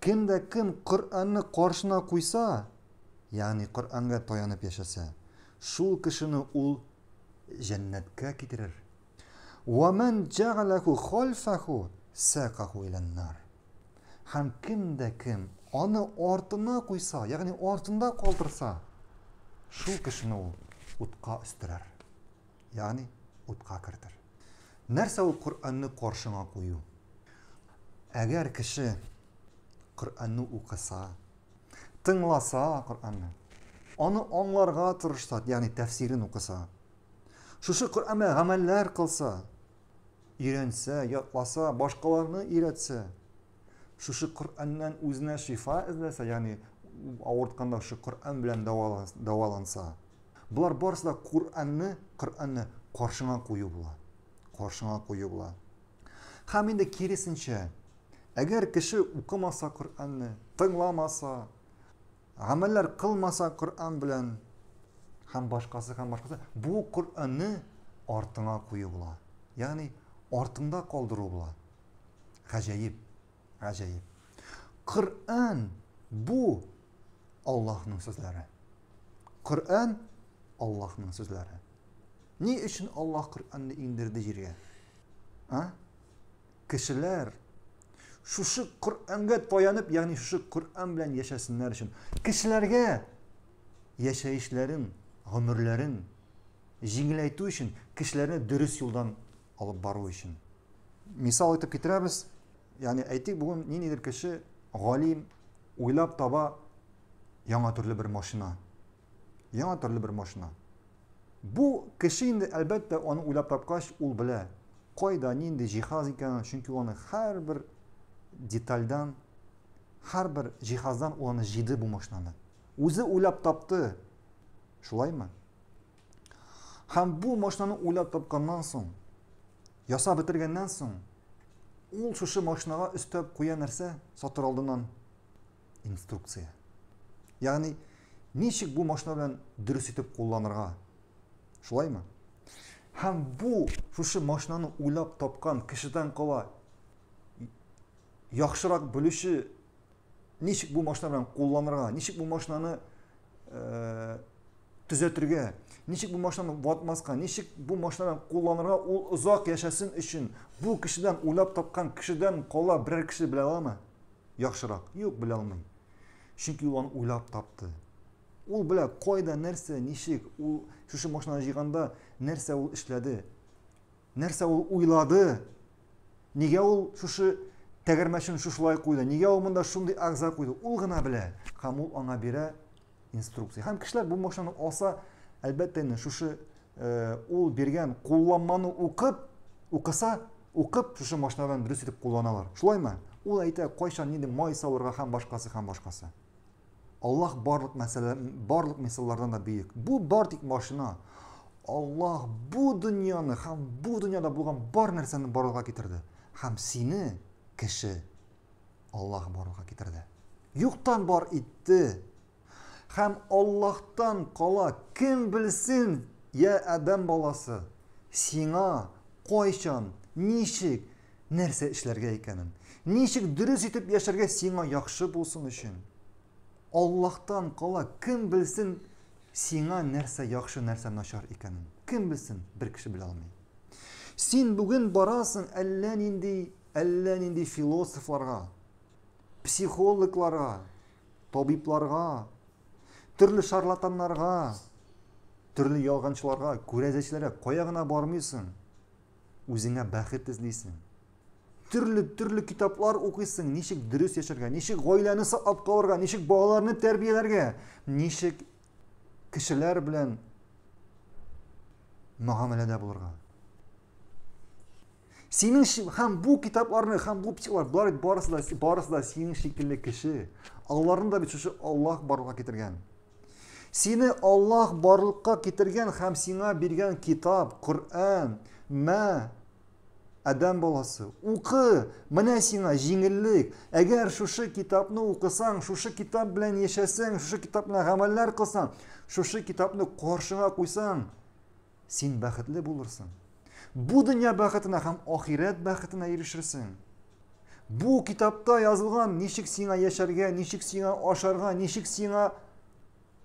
Кем дә кем Коръәнне каршына куйса, ягъни Коръәнгә таянып яшәсә, шул кешене ул җәннәткә китерер. Ва ман җәгаләху хальфаху сакаху иләннар. Һәм кем дә кем аны артына куйса, ягъни артында калдырса, шул кешене ул утка өстерәр. ягъни утка кертер. Нәрсә ул Коръәнне каршыңа кую? Әгәр кеше Коръәнне укыса, тыңласа Коръәнне, аны аңларга тырышса, ягъни тәфсирен укыса, шушы Коръәнгә гамәлләр кылса, өйрәнсә, ятласа, башкаларны өйрәтсә, Шушы Коръәннән үзенә шифа эзләсә, ягъни авыртканда шушы Коръән белән дәваланса. Болар барысы да Коръәнне, Коръәнне каршыңа кую була. Каршыңа кую була. Һәм инде киресенчә, әгәр кеше укымаса Коръәнне, тыңламаса, гамәлләр кылмаса Коръән белән һәм башкасы һәм башкасы, бу Коръәнне артыңа кую була. Ягъни артыңда калдыру була. Гаҗәеп, гаҗәеп. Коръән бу Аллаһның сүзләре. Коръән Аллаһның сүзләре. Ни өчен Аллаһ Коръәнне иңдерде җиргә? А? Кешеләр шушы Коръәнгә таянып, ягъни шушы Коръән белән яшәсеннәр өчен кешеләргә яшәешләрен, гомерләрен җиңеләйтү өчен кешеләрне дөрес юлдан алып бару өчен. Мисал итеп китерәбез, ягъни әйтик, бүген ниндидер кеше галим уйлап таба яңа төрле бер машина. Яңа төрле бер машина. Бу кеше инде әлбәттә аны уйлап тапкач, ул белә, кайда нинди җиһаз икәнен, чөнки аны һәрбер детальдан, һәрбер җиһаздан ул аны җиде бу машинаны. Үзе уйлап тапты. Шулаймы? Һәм бу машинаны уйлап тапканнан соң, ясап бетергәннән соң, ул шушы машинага өстәп куя нәрсә сатыр алдыннан инструкция. Ягъни, ничек бу машина белән дөрес итеп кулланырга? Шулаймы? Һәм бу шушы машинаны уйлап тапкан кешедән кала яхшырак белүче Ничек бу машина белән кулланырга, ничек бу машинаны э, төзәтергә, ничек бу машинаны ватмаска, ничек бу машинаны кулланырга ул озак яшәсен өчен бу кешедән уйлап тапкан кешедән кала берәр кеше белә аламы? Яхшырак. Юк, белә алмый. Чөнки ул аны уйлап тапты. Ул белә кайда, нәрсә, ничек, ул шушы машинаны җыйганда нәрсә ул эшләде. Нәрсә ул уйлады? Нигә ул шушы тәгәрмәчен шушылай куйды? Нигә ул монда шундый агза куйды? Ул гына белә. Һәм ул аңа бирә инструкция. Һәм кешеләр бу машинаны алса, әлбәттә инде шушы э, ул биргән кулланманы укып, укыса, укып шушы машинадан дөрес итеп кулланалар. Шулаймы? Ул әйтә, кайчан нинди май салырга һәм башкасы һәм башкасы. Аллаһ барлык мәсьәлә, барлык мисаллардан да бөек. Бу бар тик машина. Аллаһ бу дөньяны һәм бу дөньяда булган бар нәрсәне барлыкка китерде. Һәм сине, кеше, Аллаһ барлыкка китерде. Юктан бар итте. Һәм Аллаһтан кала кем белсен, я Адәм баласы, сиңа кайчан, ничек, нәрсә эшләргә икәнен, ничек дөрес итеп яшәргә сиңа яхшы булсын өчен. Аллаһтан кала, кем белсен сиңа нәрсә яхшы, нәрсә начар икәнен. Кем белсен, бер кеше белә алмый. Син бүген барасың әллә нинди, әллә нинди философларга, психологларга, табибларга, төрле шарлатаннарга, төрле ялганчыларга, күрәзәчләргә кая гына бармыйсың. Үзеңә бәхет эзлисең. Төрле, төрле китаплар укыйсың, ничек дөрес яшәргә, ничек гаиләне саклап калырга, ничек балаларны тәрбияләргә, ничек кешеләр белән мөгамәләдә булырга. Синең һәм бу китапларны, һәм бу психлар, болар барысы да, барысы да синең шикелле кеше. Алларны да бит шушы Аллаһ барлыкка китергән. Сине Аллаһ барлыкка китергән һәм сиңа биргән китап, Коръән, мә, Адәм баласы, укы, менә сиңа җиңеллек. Әгәр шушы китапны укысаң, шушы китап белән яшәсәң, шушы китап белән гамәлләр кылсаң, шушы китапны каршыңа куйсаң, Син бәхетле булырсың. Бу дөнья бәхетенә һәм ахирәт бәхетенә ирешерсең. Бу китапта язылган ничек сиңа яшәргә, ничек сиңа ашарга, ничек сиңа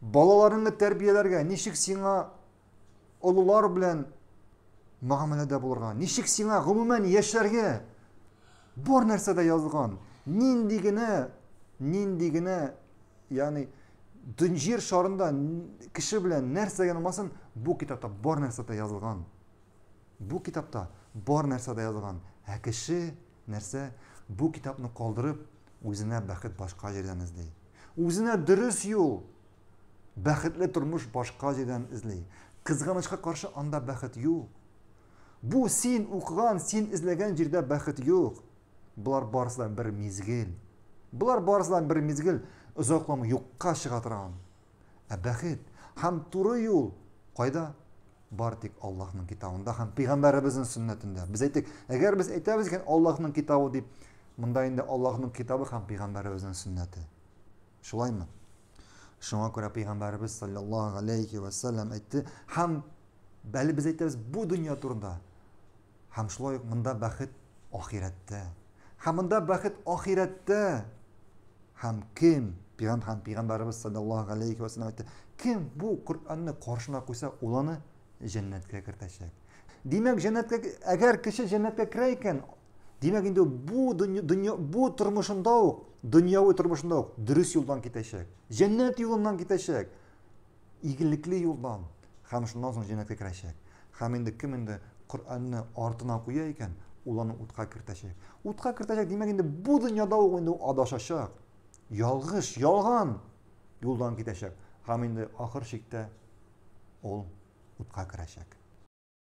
балаларыңны тәрбияләргә, ничек сиңа олылар белән мөгамәләдә булырга, ничек сиңа гомумән яшәргә, Бар нәрсә дә язган. Нинди генә, нинди генә, ягъни җир шарында кеше белән нәрсә генә булмасын, бу китапта бар нәрсә дә язылган. Бу китапта бар нәрсә дә язылган. Ә кеше нәрсә? Бу китапны калдырып, үзенә бәхет башка җирдән эзли. Үзенә дөрес юл, бәхетле тормыш башка җирдән эзли. Кызганычка каршы, анда бәхет юк. Бу син укыган, син эзләгән җирдә бәхет юк. Болар барысы да бер мизгел. Болар барысы да бер мизгел озакламый юкка чыга торган. Ә бәхет һәм туры юл кайда? Бар тик Аллаһның китабында һәм пәйгамбәребезнең сөннәтендә. Без әйтик, әгәр без әйтәбез икән Аллаһның китабы дип, монда инде Аллаһның китабы һәм пәйгамбәребезнең сөннәте. Шулаймы? Шуңа күрә пәйгамбәребез саллаллаһу алейхи ва саллям әйтте, һәм бәле без әйтәбез бу дөнья турында. Һәм шулай ук монда бәхет ахирәттә. Һәм монда бәхет ахирәттә. Һәм кем пәйгамбәр һәм пәйгамбәребез саллаллаһу алейхи ва саллям әйтте, кем бу Коръәнне каршына куйса, ул аны җәннәткә кертәчәк. Димәк, җәннәткә әгәр кеше җәннәткә керә икән, Димәк инде бу дөнья бу тормышында ук, дөньяви тормышында ук дөрес юлдан китәчәк. Җәннәт юлыннан китәчәк. Игелекле юлдан. Хәм шуннан соң җәннәткә керәчәк. Хәм инде кем инде Коръәнне артына куя икән, ул аны утка кертәчәк. Утка кертәчәк, димәк инде бу дөньяда ук инде адашачак. Ялгыш, ялган юлдан китәчәк. Хәм инде ахыр чиктә ул утка керәчәк.